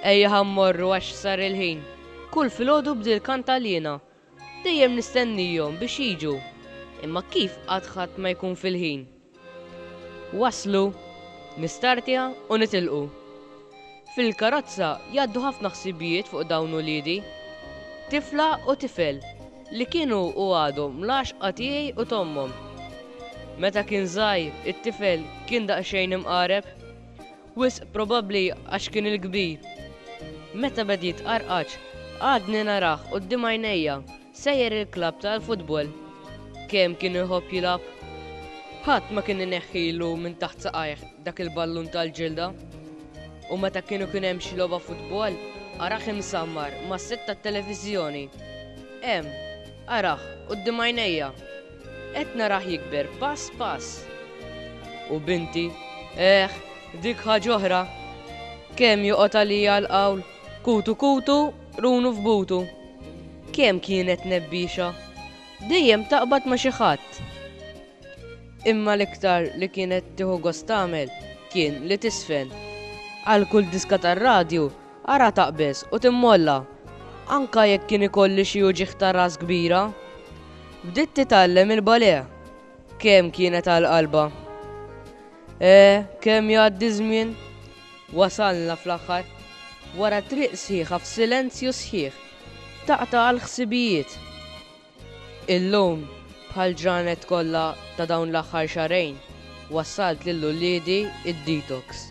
Ejja ħammorru għax sar il-ħin. Kull filgħodu bdil kant għalina. Dejjem nistennijhom biex jiġu. Imma kif qatt ħadd ma jkun fil-ħin? Waslu, nistartja u nitilqu. Fil-karozza jgħaddu ħafna ħsibijiet fuq dawn uliedi. Tifla u tifel li kienu u għadhom l-għaxqa tiegħi u t'ommhom. Meta kien żgħir it-tifel kien daqsxejn imqareb. Wisq probabbli għax kien il-kbir. Meta beda jitqarqaċ għadni narah quddiem għajnejja Sejjer il-klabb tal-futbol. Kemm kien iħobb jilgħab! Ħadd ma kien ineħħilu minn taħt saqajh dak il-ballun tal-ġilda. U meta kien ikun hemm xi logħba futbol, arah imsammar mas-sett tat-televiżjoni. Hemm, arah, quddiem għajnejja. Qed narah jikber pass pass. U binti, eh, dik ħaġa oħra! Kemm joqgħod għalija l-qawl! Kutu kutu, qrunu f'butu. Kemm kienet nebbiexa. Dejjem taqbad ma' xi ħadd. Imma l-iktar li kienet tieħu gost tagħmel kien li tiżfen. Għal kull diska tar-radju ara taqbeż u timmolla, anke jekk kien ikolli xi uġigħ ta' ras kbira. Bdiet titgħallem il-balè. Kemm kienet għal qalbha. Eh, kemm jgħaddi ż-żmien. Wasalna fl-aħħar. Wara triq sħiħa f'silenzju sħiħ, taqta' għall-ħsibijiet. Illum, bħall-ġranet kollha ta' dawn l-aħħar xahrejn, wassalt lil uliedi d-detox.